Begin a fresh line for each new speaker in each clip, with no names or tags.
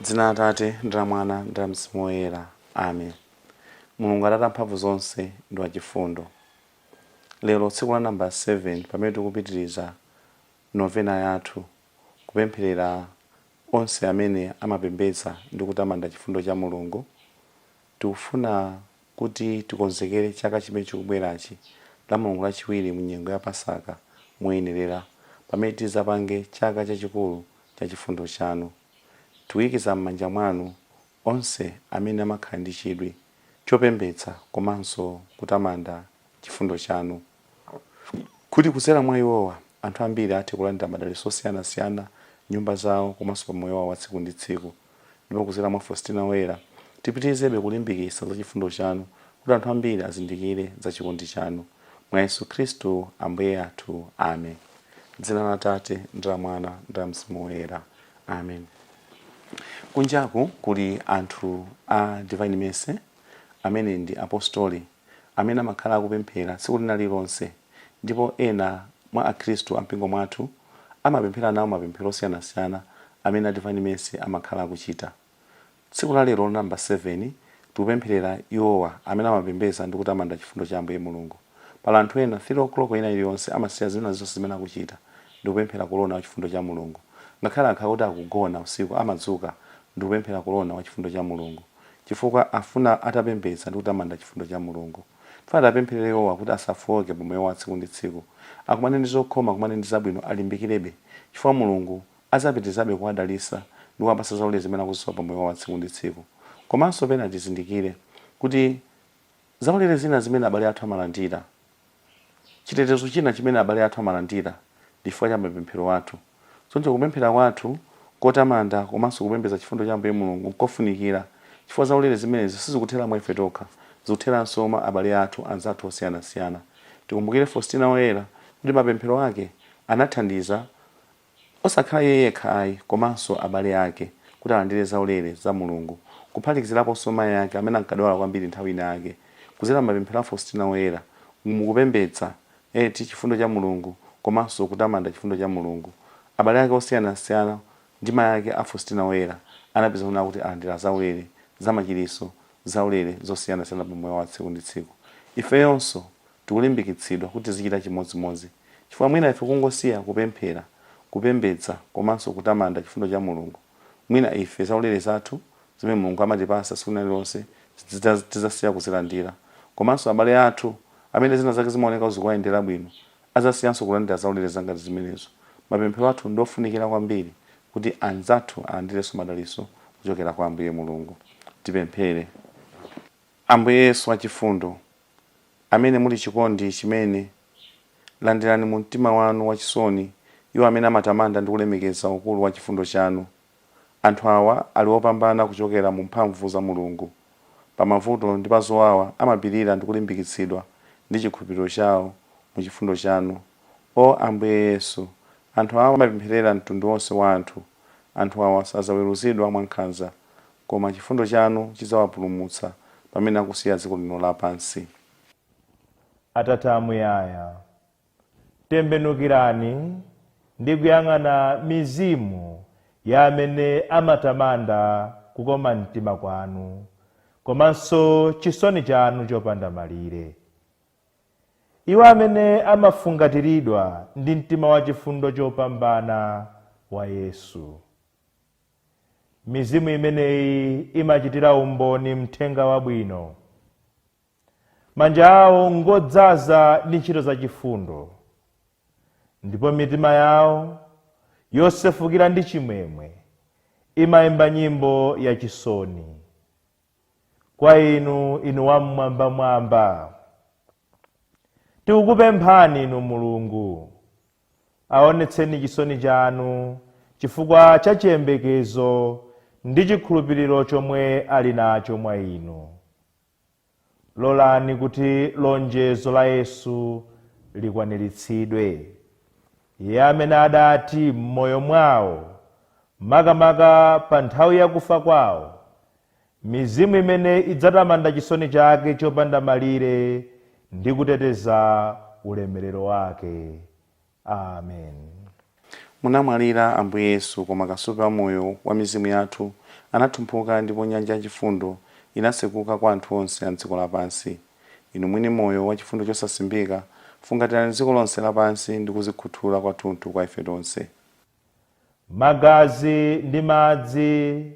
dzina la atate ndi la mwana ndi la mzimu woyera amen mulungu atate amphamvu zonse ndi wachifundo lero tsiku la namba 7 pamene tikupitiriza novena yathu kupempherera onse amene amapembedza ndi kutamanda chifundo cha Mulungu, tikufuna kuti tikonzekere chaka chimene chikubwerachi, Lamulungu Lachiwiri mu nyengo ya Pasaka, moyenerera, pamene tidzapange chaka chachikulu cha chifundo chanu. Tikuikiza m'manja mwanu onse amene amakhala ndi chidwi chopembedza komanso kutamanda chifundo chanu. kuti kudzera mwa iwowa, anthu ambiri athe kulandira madalitso osiyanasiyana m'nyumba zawo komanso pa moyo wawo wa tsiku ndi tsiku. Ndipo kudzera mwa Faustina Woyera, tipitirizebe kulimbikitsa za chifundo chanu kuti anthu ambiri azindikire za chikondi chanu. Mwa Yesu Khristu Ambuye athu. Amen. Dzina la Atate, ndi la Mwana, ndi la Mzimu Woyera. Amen. Kunjaku kuli anthu a Divine Mercy. amene ndi apostoli, amene amakhala akupemphera tsiku lina lililonse, ndipo ena mwa akhristu a mumpingo mwathu amapemphera nawo mapemphero osiyanasiyana amene a Divine Mercy amakhala akuchita. Tsiku la lero namba 7 tikupempherera iwowa amene amapembedza ndi kutamanda chifundo cha Ambuye Mulungu. Pali anthu ena 3:00 ina iliyonse amasiya zina zonse zimene akuchita ndikupemphera Kolona wa chifundo cha Mulungu. Ngakhale akhala kuti akugona usiku amadzuka ndikupemphera Kolona wa chifundo cha Mulungu. chifukwa afuna atapembedza ndi kutamanda chifundo cha Mulungu. Tifuna tiwapempherere iwowa kuti asafooke pa moyo wawo wa tsiku ndi tsiku, akumane ndi zokhoma, akumane ndi zabwino, alimbikirebe, chifukwa Mulungu adzapitirizabe kuwadalitsa ndi kuwapatsa zaulere zimene akuzisowa pa moyo wawo wa tsiku ndi tsiku. Komanso pena tizindikire kuti. Zaulere zina zimene abale athu amalandira. Chitetezo china chimene abale athu amalandira ndi chifukwa cha mapemphero athu. Choncho kupemphera kwathu kotamanda komanso kupembedza chifundo cha Ambuye Mulungu n'kofunikira chifukwa zaulere zimenezi sizikuthera mwa ife tokha, zikutheranso mwa abale athu anzathu osiyanasiyana. Tikumbukire Faustina Woyera kuti mapemphero ake anathandiza Osakhala iye yekha ayi, komanso abale ake, kuti alandire zaulere za Mulungu, kuphatikiziraponso mayi ake amene ankadwala kwambiri nthawi ina yake, kudzera m'mapemphero a Faustina Woyera, mu kupembedza chifundo cha Mulungu, komanso kutamanda chifundo cha Mulungu. Abale ake osiyanasiyana ndi mayi ake a Faustina Woyera anapeza kunena kuti alandira zaulere za machiritso, zaulere zosiyanasiyana pa moyo wa tsiku ndi tsiku. Ifeyonso! tikulimbikitsidwa kuti tizichita chimodzimodzi, chifukwa mwina ife kungosiya kupemphera, kupembedza komanso kutamanda chifundo cha Mulungu, mwina ife zaulere zathu zimene Mulungu amatipatsa tsiku lina lililonse tidzasiya kuzilandira, komanso abale athu amene zina zake zimaoneka kuti zikuwayendera bwino adzasiyanso kulandira zaulere zangati zimenezo. Mapemphero athu ndi ofunikira kwambiri kuti anzathu alandirenso madalitso kuchokera kwa Ambuye Mulungu. Tipemphere. Ambuye Yesu wachifundo, amene muli chikondi chimene, landirani mu mtima wanu wachisoni iwo amene amatamanda ndi kulemekeza ukulu wa chifundo chanu. Anthu awa ali opambana kuchokera mu mphamvu za Mulungu. Pa mavuto ndi pa zowawa amapirira ndi kulimbikitsidwa ndi chikhulupiriro chawo mu chifundo chanu. O Ambuye Yesu! Anthu awa amapempherera mtundu wonse wa anthu. Anthu awa sadzaweruzidwa mwankhanza. Koma chifundo chanu chidzawapulumutsa pamene akusiya dziko lino lapansi.
Atate Amuyaya, tembenukirani ndi kuyang'ana mizimu ya amene amatamanda kukoma mtima kwanu komanso chisoni chanu chopanda malire. Iwo amene amafungatiridwa ndi mtima wachifundo chopambana wa Yesu. Mizimu imeneyi imachitira umboni mthenga wabwino. Manja awo ngodzaza ndi ntchito zachifundo, ndipo mitima yawo yosefukira ndi chimwemwe imayimba nyimbo yachisoni. Kwa inu, inu Wam'mwambamwamba, tikukupemphani, inu Mulungu, Aonetseni chisoni chanu chifukwa cha chiyembekezo ndi chikhulupiriro chomwe ali nacho mwa Inu. Lolani kuti lonjezo la Yesu likwaniritsidwe. Iye amene adati m'moyo mwawo, makamaka pa nthawi ya kufa kwawo, mizimu imene idzatamanda chisoni chake chopanda malire ndi kuteteza ulemerero wake. Amen.
Munamwalira, Ambuye Yesu, koma kasupe wa moyo wa mizimu yathu anathumphuka ndipo nyanja ya chifundo inatsekuka kwa anthu onse a m'dziko lapansi. Inu mwini moyo wa chifundo chosasimbika, fungatirani dziko lonse lapansi ndi kuzikhuthula kwathunthu kwa ife tonse. Magazi
ndi madzi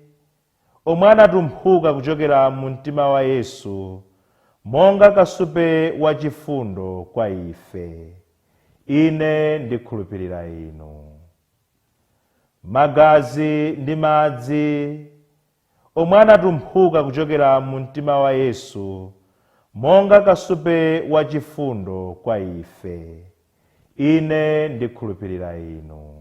omwe anatumphuka kuchokera mu mtima wa Yesu monga kasupe wa chifundo kwa ife. Ine ndikhulupirira inu. Magazi ndi madzi omwe anatumphuka kuchokera mu mtima wa Yesu monga kasupe wa chifundo kwa ife. Ine ndikhulupirira inu.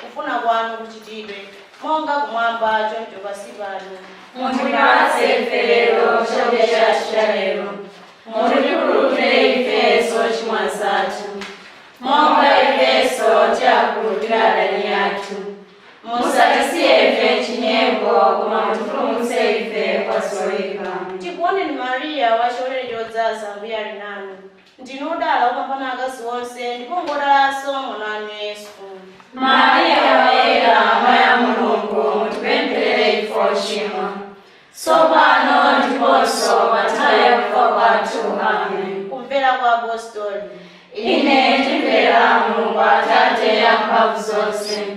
Kufuna kwanu kuchitidwe, monga kumwamba choncho pansi pano. Mutipatse
ife lero chakudya chathu cha lero. Mutikhululukire ife zochimwa zathu, monga ifenso tiwakhululukira adani athu. Musatisiye ife m'chinyengo, koma mutipulumutse ife kwa zoyipa. Tikuoneni
Mariya, wachisomo chodzaza, Ambuye ali nanu. Ndinu odala kopambana akazi onse, ndipo ngwodalanso mwana wanu Yesu. Maria
Woyera, Amayi a Mulungu, mutipempherere ife ochimwa, tsopano ndiponso pa nthawi ya kufa kwathu. Amen. Kumvera kwa
Apostoli. Ine
ndimvera Mulungu Atate amphamvu zonse,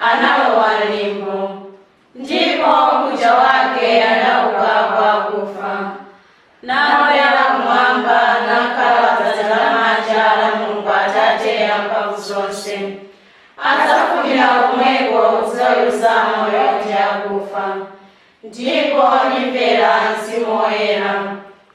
analowa m'limbo, ndipo mkucha wake anauka kwa akufa, nakwera kumwamba, nakhala padzanja lamanja la Mulungu Atate amphamvu zonse. Adzafumira komweko kudzaweruza amoyo ndi akufa, ndipo ndimvera Mzimu Woyera.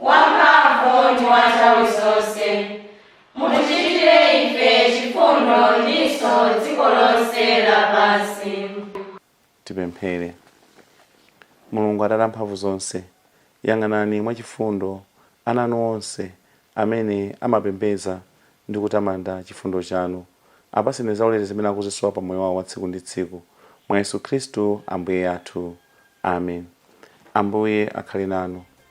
wamphamvu ndi wa nthawi zonse, mutichitire ife chifundo ndinso dziko lonse lapansi.
Tipemphere. Mulungu Atate a mphamvu zonse, yang'anani mwachifundo ana anu onse amene amapembedza ndi kutamanda chifundo chanu. Apatseni zaulere zimene akuzisowa pa moyo wao wa tsiku ndi tsiku, mwa Yesu Khristu Ambuye athu. Amen. Ambuye akhale nanu.